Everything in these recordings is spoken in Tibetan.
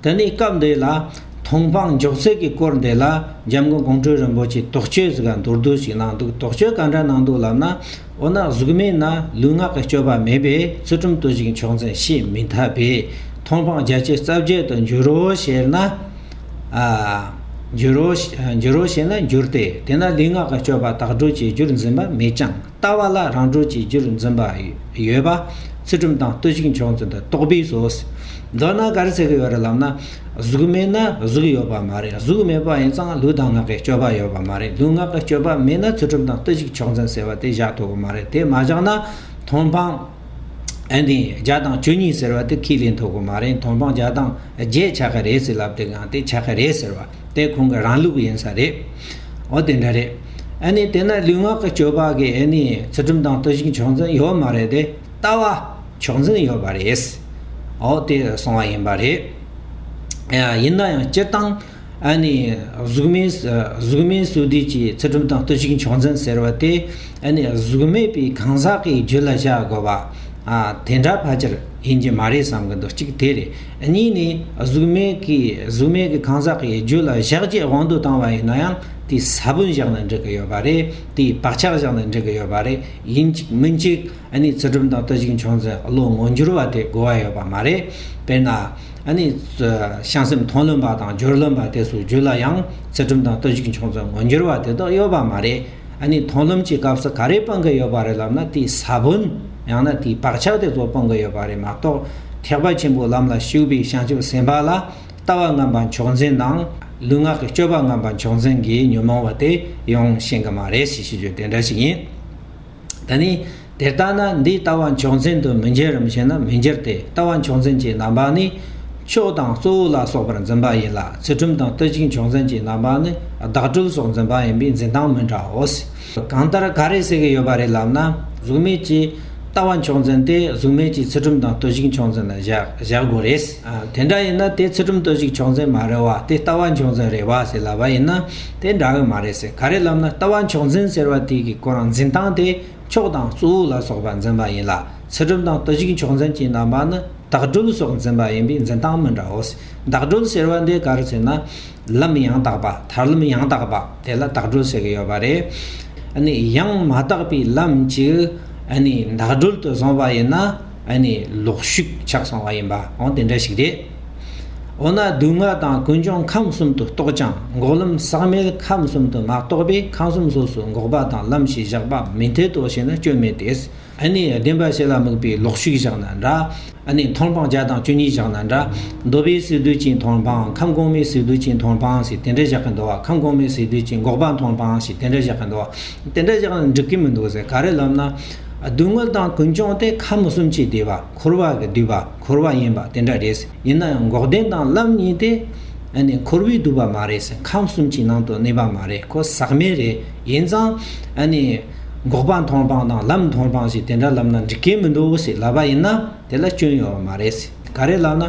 དེ་ནས་སྐབས་འདི་ལ་མཐོང་སྤང་འཇོག་ཚུལ་གྱི་སྐོར་འདི་ལ་འཇམ་མགོན་ཀོང་སྤྲུལ་རིན་པོ་ཆེས་དོགས་གཅོད་ཟིག་ག་མདོར་བསྡུས་ཤིག་གནང་འདུག་དོགས་གཅོད་ག་འདྲ་གནང་འདུག་ལབ་ན། འོ་ན་གཟུགས་མེད་ན་ལུས་ངག་གི་སྤྱོད་པ་མེད་པས་ཚུལ་ཁྲིམས་བརྟུལ་ཞིང་ཕྱོགས་འཛིན་ཤེས་མི་ཐབས་པས་མཐོང་སྤང་རྒྱ་ཆེ་རྩ་བརྒྱད་དུ་འགྱུར་རོ་ཞེས་ན། འགྱུར་རོ་ཞེས་ན་འགྱུར་ཏེ་དེས་ན་ལུས་ངག་གི་སྤྱོད་པ་དག་སྒྲུབ་བྱེད་རྒྱུར་འཛིན་པ་མེད་ཀྱང། ལྟ་བ་ལ་རང་གྲོལ་གྱི་རྒྱུར་འཛིན་པ། ཡོད་པ། ཚུལ་ཁྲིམས་དང་ལྟོས་ཤིག་མཆོག་འཛིན་དུ་རྟོགས་པས་སོ། མདོར་ན་ག་རེ་ཟེར་གི་ཡོད་རེད་ལབ་ན། གཟུགས་མེད་ན་གཟུགས་ཡོད་པ་མ་རེད་གཟུགས་མེད་པ་ཡིན་ཙང་ལུས་དང་ངག་གི་སྤྱོད་པ་ཡོད་པ་མ་རེད་ལུས་ངག་གི་སྤྱོད་པ་མེད་ན་ཚུལ་ཁྲིམས་དང་ལྟོས་ཤིག་མཆོག་འཛིན་ཟེར་བ་དེ་བཞག་ཐུབ་པ་མ་རེད་དེ་མ་བཞག་ན། མཐོང་སྤང། ཨན་དེ་བརྒྱ་དང་བཅུ་གཉིས་ཟེར་བ་དེ་ཁས་ལེན་ཐུབ་གི་མ་རེད་མཐོང་སྤང་བརྒྱ་དང་བརྒྱད་ཆགས་ཀྱི་རེད་ཟེར་ལབ་དེ་གང་དེ་ཆགས་ཀྱི་རེད་ཟེར་བ་དེ་ཁོང་གི་རང་ལུགས་ཡིན་ས་རེད་འོ་དེ་འདྲ་རེད་ཨན་ནས་དེ་ན་ལུས་ངག་གི་སྤྱོད་པ་གི་ཨན་ནས་ཚུལ་ཁྲིམས་དང་བསྟོད་བཞིན་ཆོག་འཛིན་ཡོད་མ་རེད་དེ་ལྟ་བ་ཆོག་འཛིན་ཡོད་པ་རེད་འོ་དེ་སོང་བ་ཡིན་པ་རེད་ཡིན་ན་ཡང་སྤྱིར་བཏང་ཨ་ནི་གཟུགས་མེད་གཟུགས་མེད་བསོད་བདེ་ཀྱི་ཚེ་སྒྲུབ་དང་བསྟོད་ཅིང་ཕྱག་མཚན་ཟེར་བ་སྟེ་ཨ་ནི་གཟུགས་མེད་པའི་གང་ཟག་གི་རྒྱུད་ལ་བཞག་དགོས་པ། དེ་འདྲ་ཕལ་ཆེར་ཡིན་གྱི་མ་རེད་བསམ་གྱི་འདུག་གཅིག་དེ་རེད་གཉིས་ནི་གཟུགས་མེད་ཀྱི་གཟུགས་མེད་ཀྱི་གང་ཟག་གི་རྒྱུད་ལ་བཞག་རྗེས་དབང་དུ་བཏང་བ་ཡིན་ན་ཡང་དེའི་ས་བོན་བཞག་ནས་འགྲིག་གི་ཡོད་པ་རེད་དེའི་བག་ཆགས་བཞག་ནས་འགྲིག་གི་ཡོད་པ་རེད་ཡིན་གཅིག་མིན་གཅིག་ཨ་ནི་ཚེ་སྒྲུབ་དང་བསྟོད་ཅིང་ཕྱག་མཚན་བློ་ངོ་འགྱུར་བ་དེ་དགོས་བ་ཡོད་པ་མ་རེད་དཔེར་ན། བྱང་སེམས་མཐོང་ལོན་པ་དང་སྦྱོར་ལོན་པ་དེ་སུ་རྒྱུད་ལ་ཡང་ཚེ་གྲུབ་དང་ལྟོ་གཞིག་མཆོང་ཚོད་ངོ་འགྱུར་བ་དེ་དག་ཡོད་པ་མ་རེད། མཐོང་ལོན་གྱི་སྐབས་སུ་ག་རེ་སྤང་གི་ཡོད་པ་རེད་ལབ་ན་དེའི་ས་བོན་ཡང་ན་དེའི་བག་ཆགས་དེ་ཚོ་སྤང་གི་ཡོད་པ་རེད་མ་གཏོགས་ཐེག་པ་ཆེན་པོའི་ལམ་ལ་ཞུགས་པའི་བྱང་ཆུབ་སེམས་དཔའ་ལ་ལྟ་བ་རྔམ་པ་མཆོག་འཛིན་དང་ལུས་ངག་གི་སྤྱོད་པ་རྔམ་པ་མཆོག་འཛིན་གྱི་ཉོན་མོངས་པ་དེ་ཡོང་ཤེས་གི་མ་རེད་ཞེས་བརྗོད་དེ་འདྲ་ཞིག་ཡིན། ད་ནི་དེ་ལྟ་ན་འདི་ལྟ་བ་མཆོག་འཛིན་དུ་མི་འགྱུར་རམ་ཞེ་ན་མི་འགྱུར་ཏེ་ལྟ་བ་མཆོག་འཛིན་གྱི་རྣམ་པ་ནི། ཕྱོགས་དང་གཙོ་བོ་ལ་སོགས་པར་འཛིན་པ་ཡིན་ལ་ཚུལ་ཁྲིམས་དང་ལྟོས་གཅིག་མཆོག་འཛིན་གྱི་རྣམ་པ་ནི་བདག་གྲོལ་སོགས་འཛིན་པ་ཡིན་པས་འཛིན་སྟངས་མི་འདྲའོ། གང་ལྟར་ག་རེ་ཟེར་གྱི་ཡོད་པ་རེད་ལབ་ན་གཟུགས་མེད་ཀྱི་ལྟ་བ་མཆོག་འཛིན་དེ་གཟུགས་མེད་ཀྱི་ཚུལ་ཁྲིམས་དང་ལྟོས་གཅིག་མཆོག་འཛིན་ལ་བཞག་དགོས་རེད། དེ་འདྲ་ཡིན་ན་དེ་ཚུལ་ཁྲིམས་ལྟོས་གཅིག་མཆོག་འཛིན་མ་རེད་བ་དེ་ལྟ་བ་མཆོག་འཛིན་རེད་བ་ཟེར་ལབ་པ་ཡིན་ན། དེ་འདྲ་ཨེ་མ་རེད་ཟེར་ག་རེ་ལབ་ན་ལྟ་བ་མཆོག་འཛིན་ཟེར་བ་དེ་གི་གོ་རང་འཛིན་སྟངས་དེ་མཆོག་དང་གཙོ་བོ་ལ་སོགས་པ་འཛིན་པ་ཡིན་ལ་ཚུལ་ཁྲིམས་དང་ལྟོ་གཞིག་མཆོག་འཛིན་གྱི་རྣམ་པ་ནི་དག་སྒྲུབ་སོགས་འཛིན་པ་ཡིན་པས་འཛིན་སྟངས་མི་འདྲ་བོ་ཟེར་དག་སྒྲུབ་ཟེར་བ་འདི་ག་རེ་ཟེར་ན་ལམ་ཡང་དག་པ་ཐར་ལམ་ཡང་དག་པ་དེ་ལ་དག་སྒྲུབ་ཟེར་གི་ཡོད་པ་རེད་ནི་ཡང་མ་དག་པའི་ལམ་གཅིག་ནི་དག་སྒྲུབ་ཏུ་བཟུང་བ་ཡིན་ན་ནི་ལོག་ཤུགས་ཆགས་སོང་བ་ཡིན་པ་འོང་དེ་འདྲ་ཞིག་རེད། འོ་ན་སྡུག་བསྔལ་དང་ཀུན་འབྱུང་ཁམས་གསུམ་དུ་རྟོག་ཀྱང་འགོག་ལམ་ཟག་མེད་ཁམས་གསུམ་དུ་མ་རྟོགས་པས་ཁམས་གསུམ་སོ་སོར་འགོག་པ་དང་ལམ་ཞེས་བཞག་པ་མི་མཐའི་རྟོགས་བྱེད་ན་སྐྱོན་མེད་དེ། ཨ་ནི་བདེན་པ་ཞེ་ལ་དམིགས་པའི་ལོག་ཤིག་བཞག་ན་འདྲ། ཨ་ནི་མཐོང་སྤང་བརྒྱ་དང་བཅུ་གཉིས་བཞག་ན་འདྲ། འདོད་པའི་ཟིལ་གདུལ་གྱིས་མཐོང་སྤང་ཁམས་གོང་མའི་ཟིལ་གདུལ་གྱིས་མཐོང་སྤང་ཞེས་དེ་འདྲ་བཞག་གི་འདུག་བ་ཁམས་གོང་མའི་ཟིལ་གདུལ་གྱིས་འགོག་པ་མཐོང་སྤང་ཞེས་དེ་འདྲ་བཞག་གི་འདུག་བ། དེ་འདྲ་བཞག་ན་འགྲིག་གི་མི་འདུག་ག་རེ་ལབ་ན། སྡུག་བསྔལ་དང་ཀུན་འབྱུང་སྟེ་ཁམས་གསུམ་གྱི་བདེ་བ། འཁོར་བ་གི་བསྡུས་པ་འཁོར་བ་ཡིན་པ་དེ་འདྲ་རེད། ཡིན་ན་ཡང་འགོག་བདེན་དང་རླབས་གཉིས་དེ། འཁོར་བའི་བསྡུས་པ་མ་རེད། ཁམས་གསུམ་གྱི་ནང་དུ་གནས་པ་མ་རེད་ཁོ་ཟག་མེད་རེད། ཡིན་ཙང། འགོག་པ་མཐོང་སྤང་དང་རླབས་མཐོང་སྤང་ཞིག་དེ་འདྲ་ལབ་ན་འགྲིག་གི་མི་འདུག་ཞེས་ལབ་པ་ཡིན་ན་དེ་ལ་སྐྱོན་ཡོད་པ་མ་རེད། ག་རེ་ལབ་ན།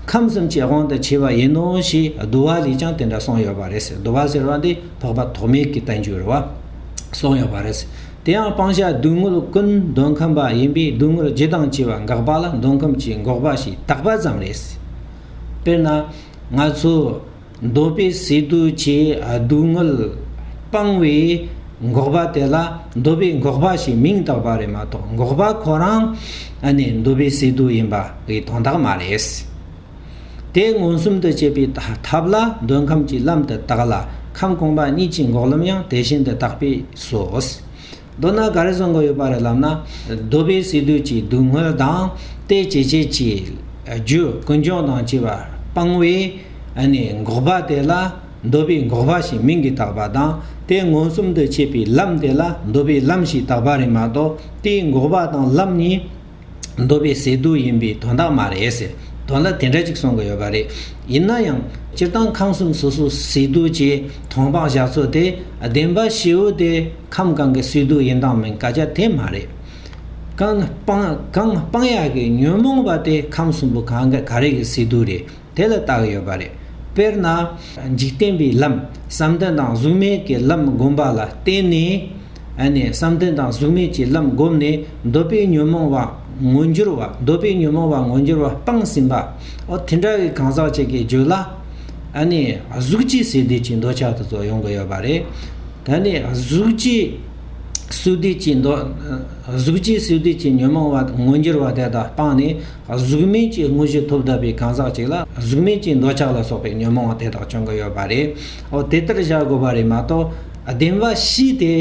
ཁམས་གསུམ་གྱི་དབང་དུ་བྱས་པ་ཡིན་ནོ་ཞེས་བསྡུ་བ་ལས་ཀྱང་དེ་འདྲ་གསུངས་ཡོད་པ་རེད། བསྡུ་བ་ཟེར་བ་འདི་འཕགས་པ་ཐོགས་མེད་ཀྱི་བསྟན་བཅོས་རུ་བ། གསུངས་ཡོད་པ་རེད། དེའང་སྤང་བྱ་སྡུག་བསྔལ་ཀུན་འདོད་ཁམས་པ་ཡིན་པས་སྡུག་བསྔལ་ཇི་དང་ཇི་བ་འགགས་པ་ལ་འདོད་ཁམས་ཀྱི་འགོག་པ་ཞེས་བཏགས་པ་ཙམ་རེད། དཔེར་ན། ང་ཚོས་འདོད་པའི་ཟས་དུས་ཀྱི་སྡུག་བསྔལ་སྤང་བའི་འགོག་པ་དེ་ལ་འདོད་པའི་འགོག་པ་ཞེས་མིང་བཏགས་པ་རེད་མ་གཏོགས་འགོག་པ་ཁོ་རང་ནི་འདོད་པའི་ཟས་དུས་ཡིན་པ་འི་དོན་དག་མ་རེད། དེས་མངོན་སུམ་དུ་བྱེད་པའི་ཐབས་ལ་འདོད་ཁམས་ཀྱི་ལམ་དུ་བཏགས་ལ་ཁམས་གོང་མ་གཉིས་ཀྱི་འགོག་ལམ་ཡང་དེ་བཞིན་དུ་བཏགས་པས་སོ། མདོར་ན་ག་རེ་གསུང་གི་ཡོད་པ་རེད་ལབ་ན། གདོལ་པའི་ཟས་དུས་ཀྱི་སྡུག་བསྔལ་དང་དེའི་བྱེད་བྱེད་ཀྱི་རྒྱུ་ཀུན་འབྱུང་དང་བཅས་པ་སྤང་བའི་འགོག་པ་དེ་ལ་འདོད་པའི་འགོག་པ་ཞེས་མིང་གིས་བཏགས་པ་དང་དེས་མངོན་སུམ་དུ་བྱེད་པའི་ལམ་དེ་ལ་འདོད་པའི་ལམ་ཞེས་བཏགས་པ་རེད་མ་གཏོགས་དེའི་འགོག་པ་དང་ལམ་གཉིས་འདོད་པའི་ཟས་དུག་ཡིན་པས་དོན་དག་མ་རེད་ཟེར་དོན་ལ་དེ་འདྲ་ཅིག་གསུང་གི་ཡོད་པ་རེད། ཡིན་ན་ཡང་སྤྱིར་བཏང་ཁམས་གསུམ་སོ་སོ་ཟས་དུག་ཅེས་མཐོང་སྤང་བཞག་ཚུལ་དེ་བདེན་པ་ཞེ་བོ་དེ་ཁམས་གང་གི་ཟས་དུག་ཡིན་དང་མིན་བཀའ་རྒྱ་དེ་མ་རེད། གང་སྤང་གང་སྤང་ཡག་གི་ཉོན་མོངས་པ་དེ་ཁམས་གསུམ་པོ་གང་གི་ག་རེ་གི་ཟས་དུག་རེད། དེ་ལ་བཏགས་ཡོད་པ་རེད། དཔེར་ན། འཇིག་རྟེན་པའི་ལམ་བསམ་གཏན་དང་གཟུགས་མེད་ཀྱི་ལམ་བསྒོམ་པ་ལ་བརྟེན་ནས། བསམ་གཏན་དང་གཟུགས་མེད་ཀྱི་ལམ་བསྒོམས་ནས་འདོད་པའི་ཉོན་མོངས་པ་ངོ་འགྱུར་བ་འདོད་པའི་ཉོན་མོངས་པ་ངོ་འགྱུར་བ་སྤངས་ཟིན་པ། འོ་དེ་འདྲ་བའི་གང་ཟག་ཅིག་གིས་རྒྱུད་ལ། གཟུགས་ཀྱི་ཟས་བདེ་སྐྱིད་འདོད་ཆགས་དུ་ཚོར་ཡོང་གི་ཡོད་པ་རེད། ད་ནི་གཟུགས་ཀྱི་ཟས་བདེ་སྐྱིད་འདོད་གཟུགས་ཀྱི་ཟས་བདེ་སྐྱིད་ཉོན་མོངས་པ་ངོ་འགྱུར་བ་དེ་དག་སྤངས་ནས་གཟུགས་མེད་ཀྱི་དངོས་གཞི་ཐོབ་དགོས་པའི་གང་ཟག་ཅིག་ལ་གཟུགས་མེད་ཀྱི་འདོད་ཆགས་ལ་སོགས་པའི་ཉོན་མོངས་དེ་དག་བྱུང་གི་ཡོད་པ་རེད། འོ་དེ་ལྟར་བཞག་དགོས་པ་རེད་མ་གཏོགས། བདེན་པ་བཞི་དེ་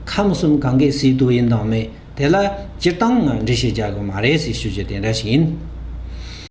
ཁམས་གསུམ་གང་གའི་སྲིད་དུ་ཡིན་དང་མེད་དེ་ལ་སྤྱིར་བཏང་ངང་འགྲེལ་བཤད་རྒྱག་དགོས་མ་རེད་ཟེར་ཞུ་རྒྱུ་དེ་འདྲ་ཞིག་ཡིན།